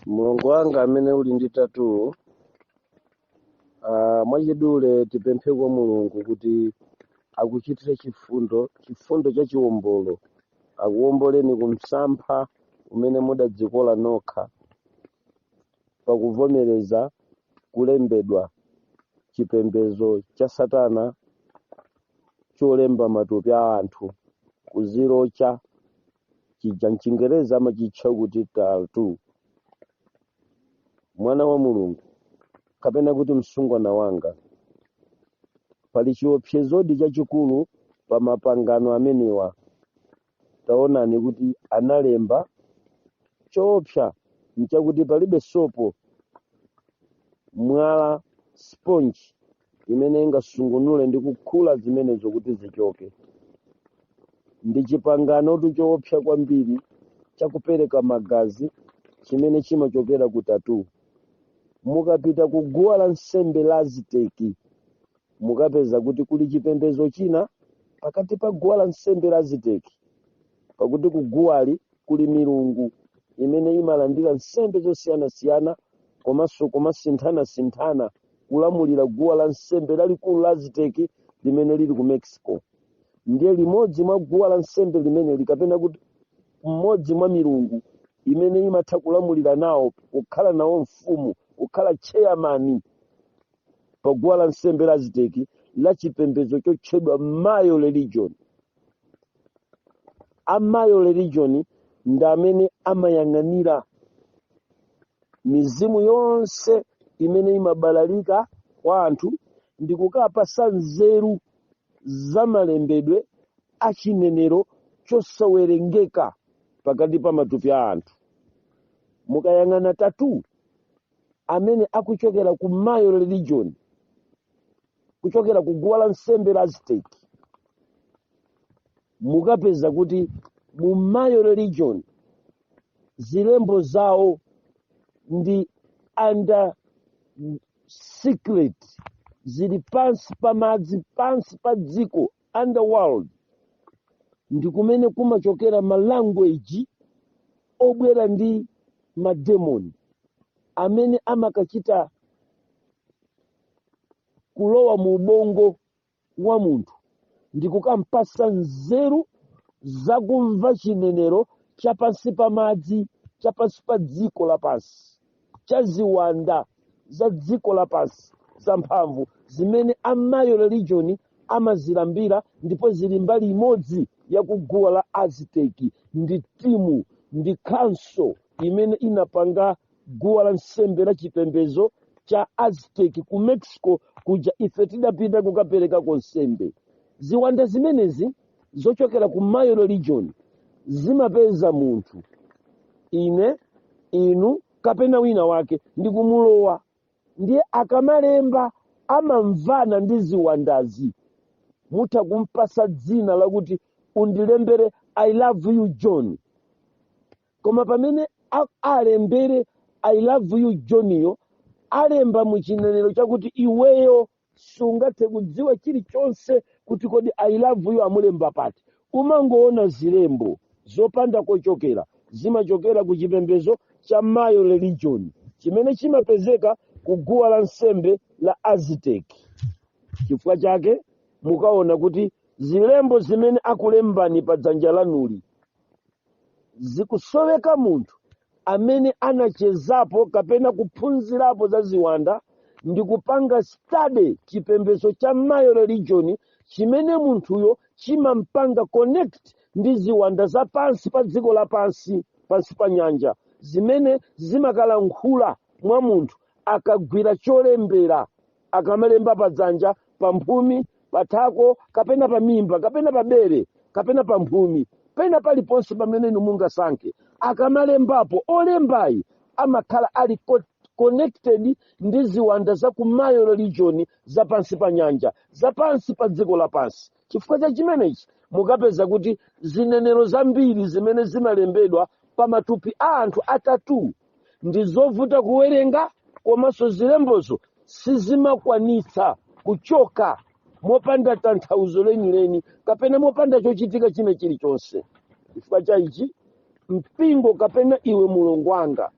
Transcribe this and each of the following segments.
mlongo wanga amene uli ndi tattoo ah, mwachidule tipemphe kwa mulungu kuti akuchitire chifundo chifundo cha chiwombolo akuwomboleni ku msampha umene mudadzikola nokha pakuvomereza kulembedwa chipembedzo cha satana cholemba matupi a anthu kuzirocha chija mchingerezi amachitcha kuti tattoo mwana wa mulungu kapena kuti msungwana wanga pali chiopsezodi chachikulu pa mapangano amenewa taonani kuti analemba choopsa nchakuti palibe sopo mwala sponge imene ingasungunule ndi kukhula zimenezo kuti zichoke ndi chipanganotu choopsa kwambiri cha kupereka magazi chimene chimachokera ku tattoo mukapita ku guwa la nsembe la aziteki mukapeza kuti kuli chipembedzo china pakati pa guwa la nsembe la aziteki pakuti kuguwali kuli milungu imene imalandira nsembe zosiyanasiyana komanso kumasinthanasinthana kulamulira guwa la nsembe lalikulu la aziteki limene lili ku mexico ndiye limodzi mwa guwa la nsembe limeneli kapena kuti mmodzi mwa milungu imene imatha kulamulira nawo kukhala nawo mfumu kukhala chairman pa guwa la nsembe la aziteki la chipembedzo chotchedwa mayo religion a mayo religion ndi amene amayang'anira mizimu yonse imene imabalalika kwa anthu ndi kukapatsa nzeru za malembedwe a chinenero chosawerengeka pakati pa matupi a anthu mukayang'ana tattoo amene akuchokera ku mayo religion kuchokera ku guwa la nsembe la aztec mukapeza kuti mu mayo religion zilembo zawo ndi under secret zili pansi pa madzi pansi pa dziko underworld ndi kumene kumachokera ma language obwera ndi mademoni amene amakachita kulowa mu ubongo wa munthu ndi kukampatsa nzeru zakumva chinenero cha pansi pa madzi cha pansi pa dziko lapansi cha ziwanda za dziko lapansi zamphamvu zimene amayo religion amazilambira ndipo zili mbali imodzi ya kuguwa la aziteki ndi timu ndi council imene inapanga guwa la nsembe la chipembedzo cha aztec ku mexico kuja ife tidapita kukaperekako nsembe ziwanda zimenezi zochokera ku mayo religion zimapeza munthu ine inu kapena wina wake ndi kumulowa ndiye akamalemba amamvana ndi ziwandazi mutha kumpatsa dzina lakuti undilembere i love you john koma pamene a- alembere i love you johniyo alemba mu chinenero chakuti iweyo sungathe kudziwa chilichonse kuti kodi i love you amulemba pati umangoona zilembo zopanda kochokera zimachokera ku chipembedzo cha mayo religion chimene chimapezeka ku guwa la nsembe la aztec chifukwa chake mukaona kuti zilembo zimene akulembani pa dzanja lanuli zikusoweka munthu amene anachezapo kapena kuphunzirapo za ziwanda ndi kupanga study chipembedzo cha mayo religion chimene munthuyo chimampanga connect ndi ziwanda za pansi pa dziko lapansi pansi pa nyanja zimene zimakalankhula mwa munthu akagwira cholembera akamalemba pa dzanja pa mphumi pa thako kapena pa mimba kapena pa bere kapena pa mphumi pena paliponse pamene inu mungasankhe akamalembapo olembayi amakhala ali co- connected ndi ziwanda za ku mayo religion za pansi pa nyanja za pansi pa dziko lapansi chifukwa cha chimenechi mukapeza kuti zinenero zambiri zimene zimalembedwa pa matupi a anthu a tattoo ndi zovuta kuwerenga komanso zilembozo sizimakwanitsa kuchoka mopanda tanthauzo lenileni kapena mopanda chochitika china chilichonse chifukwa cha ichi mpingo kapena iwe mlongo wanga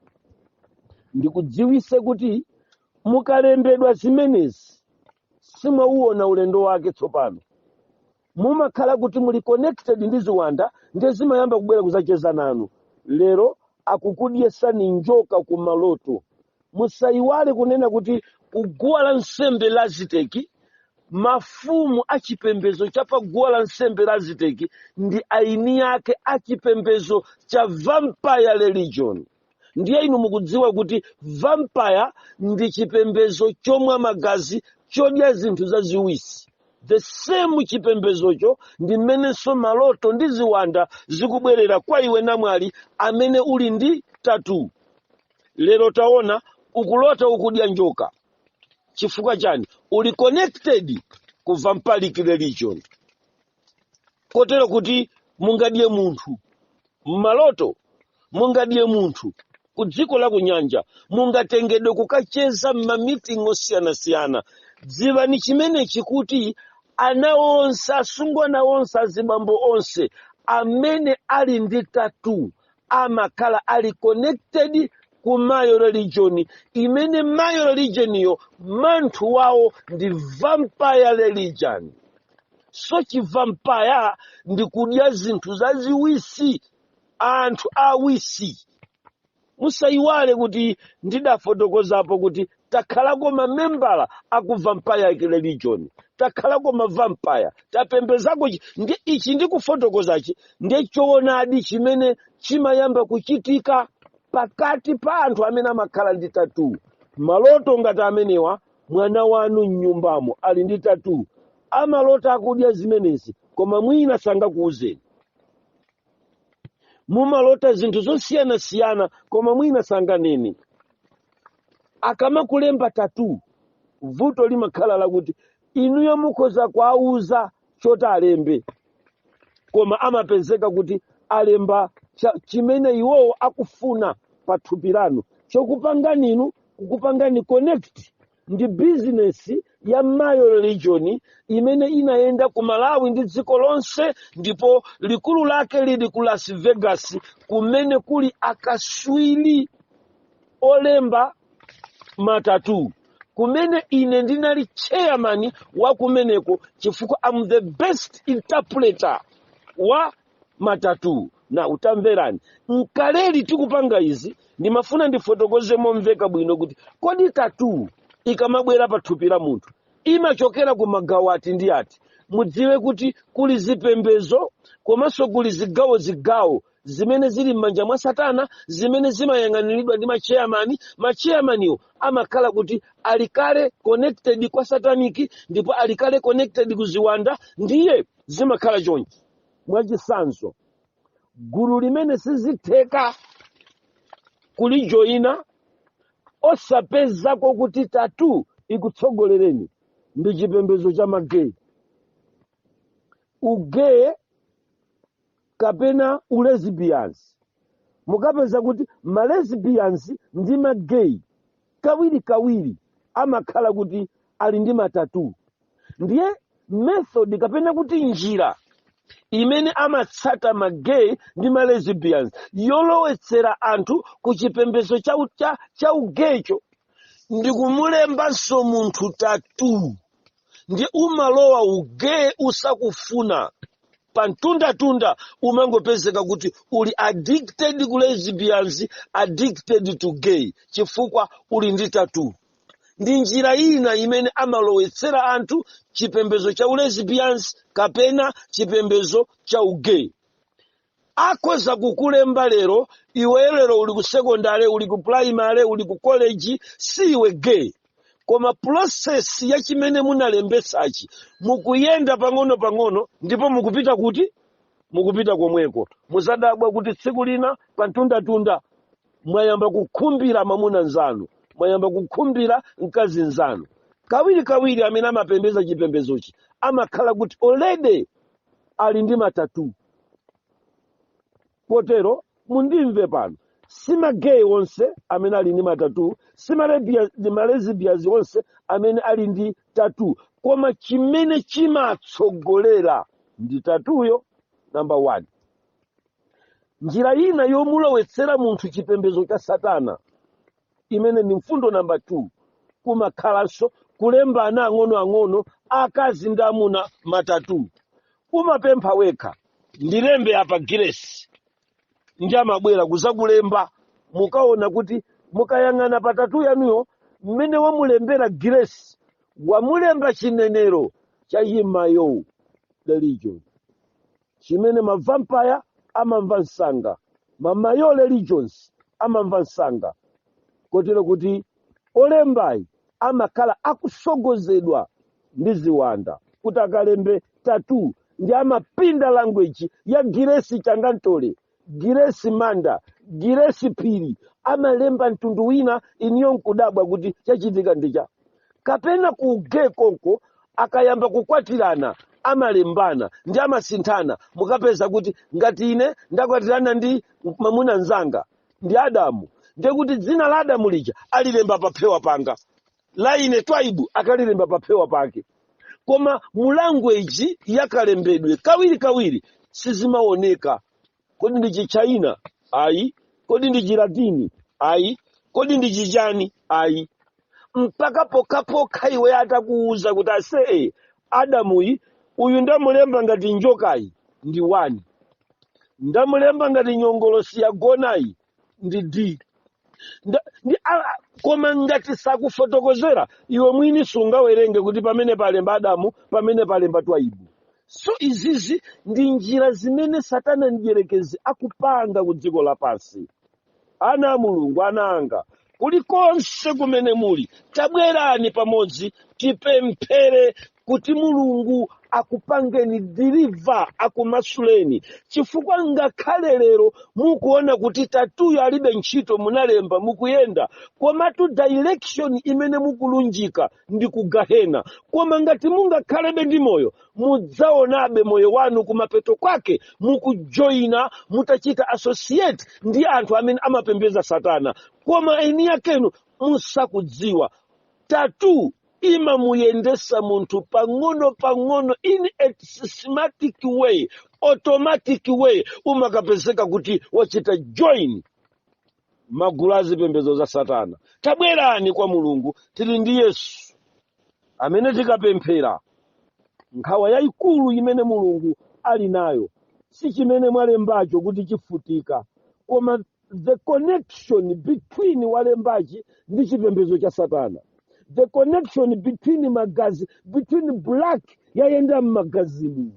ndikudziwise kuti mukalembedwa zimenezi simwauona ulendo wake tsopano mumakhala kuti muli connected ndi ziwanda ndiye zimayamba kubwera kuzacheza nanu lero akukudyesani njoka ku maloto musayiwale kunena kuti kuguwa la nsembe la aziteki mafumu a chipembedzo cha pa guwa la nsembe la aziteki ndi aini ake a chipembedzo cha vampire religion ndiye inu mukudziwa kuti vampire ndi chipembezo chomwa magazi chodya zinthu zaziwisi the same chipembezocho ndi mmenenso maloto ndi ziwanda zikubwerera kwa iwe namwali amene uli ndi tatu lero taona ukulota ukudya njoka chifukwa chani uli connected ku vampalic religion kotero kuti mungadye munthu m'maloto mungadye munthu ku dziko la kunyanja mungatengedwe kukacheza m'mamiting osiyanasiyana dziwani chimenechi kuti ana onse asungwana onse azibambo onse amene ali ndi tatu amakhala ali connected ku mayo religion imene mayo religioniyo manthu wawo ndi vampire religion so chivampaya ndi kudya zinthu zaziwisi anthu awisi musayiwale kuti ndidafotokozapo kuti takhalako mamembala aku vampire religion takhalako mavampire tapembezako chi- ndi ichi ndikufotokozachi ndiye choonadi chimene chimayamba kuchitika pakati pa anthu amene amakhala ndi tatu maloto ngati amenewa mwana wanu m'nyumbamo ali ndi tatu amalota akudya zimenezi koma mwina sangakuwuzeni mumalota zinthu zosiyanasiyana koma mwina sanganene akamakulemba tatu vuto limakhala lakuti inuyo mukhoza kuwauza choti alembe koma amapezeka kuti alemba chimene iwowo akufuna pa thupi lanu chokupangani inu kukupangani connect ndi bizinesi ya mayo religion imene inayenda ku malawi ndi dziko lonse ndipo likulu lake lili ku las vegas kumene kuli akaswiri olemba matatu kumene ine ndinali chairman wa kumeneko chifukwa I'm the best interpreter wa matatu na utamverani nkaleli tikupanga izi ndimafuna ndifotokoze momveka bwino kuti kodi tatu ikamabwera pa thupi la munthu imachokera ku magawo ati ndi ati mudziwe kuti kuli zipembezo komanso kuli zigawo zigawo zimene zili m'manja mwa satana zimene zimayang'aniridwa ndi macheyamani macheyamaniwo amakhala kuti ali kale connected kwa sataniki ndipo ali kale connected ku ziwanda ndiye zimakhala chonchi mwachisanzo gulu limene sizitheka kulijoyina osapezako kuti tatu ikutsogolereni ndi chipembezo cha mageyi ugeyi kapena ulesbians mukapeza kuti malesbians ndi magay kawirikawiri amakhala kuti ali ndi matattoo ndiye method kapena kuti njira imene amatsata magay ndi malesbians yolowetsera anthu ku chipembedzo cha ugaycho ndi kumulembanso munthu tattoo ndiye umalowa ugay usakufuna pa mtundatunda umangopezeka kuti uli addicted ku lesbians addicted to gay chifukwa uli ndi tattoo ndi njira ina imene amalowetsera anthu chipembedzo cha ulesbians kapena chipembedzo cha ugay akhoza kukulemba lero iwe lero uli ku sekondale uli ku primary uli ku college si iwe gay koma process ya chimene munalembetsachi mukuyenda pang'ono pang'ono ndipo mukupita kuti mukupita komweko muzadabwa kuti tsiku lina pantundatunda mwayamba kukhumbira mwamuna nzanu mwayamba kukhumbira mkazi nzanu kawiri kawiri amene amapembeza chipembezochi amakhala kuti already ali ndi matattoo kotero mundimve pano si magay onse amene ali ndi matattoo si malesbians onse amene ali ndi tattoo koma chimene chimatsogolera ndi tattooyo namba 1 njira ina yomulowetsera munthu chipembedzo cha satana imene ndi mfundo namba 2 kumakhalanso kulemba ana ang'onoang'ono akazi ndi amuna matattoo umapempha wekha ndilembe apa Grace ndi amabwera kuzakulemba mukaona kuti mukayang'ana pa tattoo yanuyo mmene wamulembera Grace wamulemba chinenero cha yimayo religion chimene mavampire amamva msanga mamayo religions amamva msanga kotero kuti olembayi amakhala akusogozedwa ndi ziwanda kuti akalembe tattoo ndi amapinda language ya Grace changantole Grace Manda Grace Phiri amalemba mtundu wina iniyo nkudabwa kuti chachitika ndicha kapena ku ugay konko akayamba kukwatirana amalembana ndi amasinthana mukapeza kuti ngati ine ndakwatirana ndi mwamuna mzanga ndi adamu ndiye kuti dzina la adamu lija alilemba paphewa panga la ine twaibu akalilemba paphewa pake koma mu language yakalembedwe kawiri kawiri sizimaoneka kodi ndi chichaina ayi kodi ndi chilatini ayi kodi ndi chichani ayi mpaka pokhapokha iwe atakuwuza kuti asee adamuyi uyu ndamulemba ngati njokayi ndi wani ndamulemba ngati nyongolosi yagonayi ndi d koma ngati sakufotokozera iwe mwini sungawerenge kuti pamene palemba adamu pamene palemba twaibu so izizi ndi njira zimene satana mdyerekezi akupanga ku dziko lapansi ana a mulungu ana anga kulikonse kumene muli tabwerani pamodzi tipemphere kuti mulungu akupangeni deliver akumasuleni chifukwa ngakhale lero mukuona kuti tattooyo alibe ntchito munalemba mukuyenda komatu direction imene mukulunjika ndi kugahena koma ngati mungakhalebe ndi moyo mudzaonabe moyo wanu kumapeto kwake mukujoyina mutachita associate ndi anthu amene amapembeza satana koma eni yakenu musakudziwa tattoo imamuyendesa munthu pang'ono pang'ono in a systematic way automatic way umakapezeka kuti wachita join magulu a zipembedzo za satana tabwerani kwa mulungu tili ndi yesu amene tikapemphera nkhawa yayikulu imene mulungu ali nayo si chimene mwalembacho kuti chifutika koma the connection between walembachi ndi chipembedzo cha satana the connection between magazi between black yayenda m'magazimu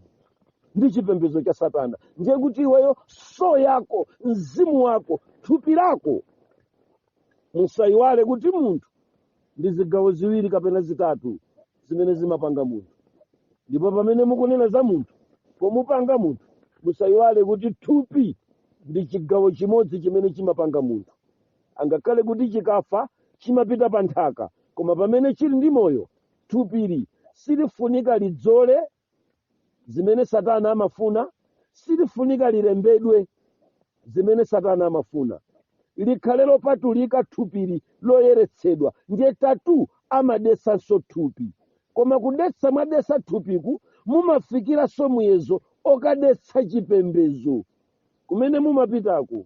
ndi chipembedzo cha satana ndiye kuti iweyo soul yako mzimu wako thupi lako musayiwale kuti munthu ndi zigawo ziwiri kapena zitatu zimene zimapanga munthu ndipo pamene mukunena za munthu pomupanga munthu musayiwale kuti thupi ndi chigawo chimodzi chimene chimapanga munthu angakhale kuti chikafa chimapita pa nthaka koma pamene chili ndi moyo thupili silifunika lidzole zimene satana amafuna silifunika lilembedwe zimene satana amafuna likhale lopatulika thupili loyeretsedwa ndiye tattoo amadetsanso thupi koma kudetsa mwadetsa thupiku mumafikiranso muyezo okadetsa chipembedzo kumene mumapitako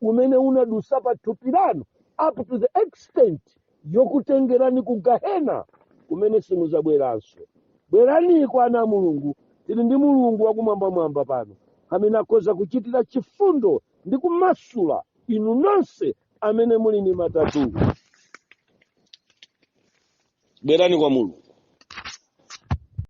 umene unadusa pa thupi lanu up to the extent yokutengerani ku gahena kumene simuzabweranso bwerani kwa ana a mulungu tili ndi mulungu wakumwambamwamba pano amene akhoza kuchitira chifundo ndi kumasula inu nonse amene muli ndi matattoo bwerani kwa mulungu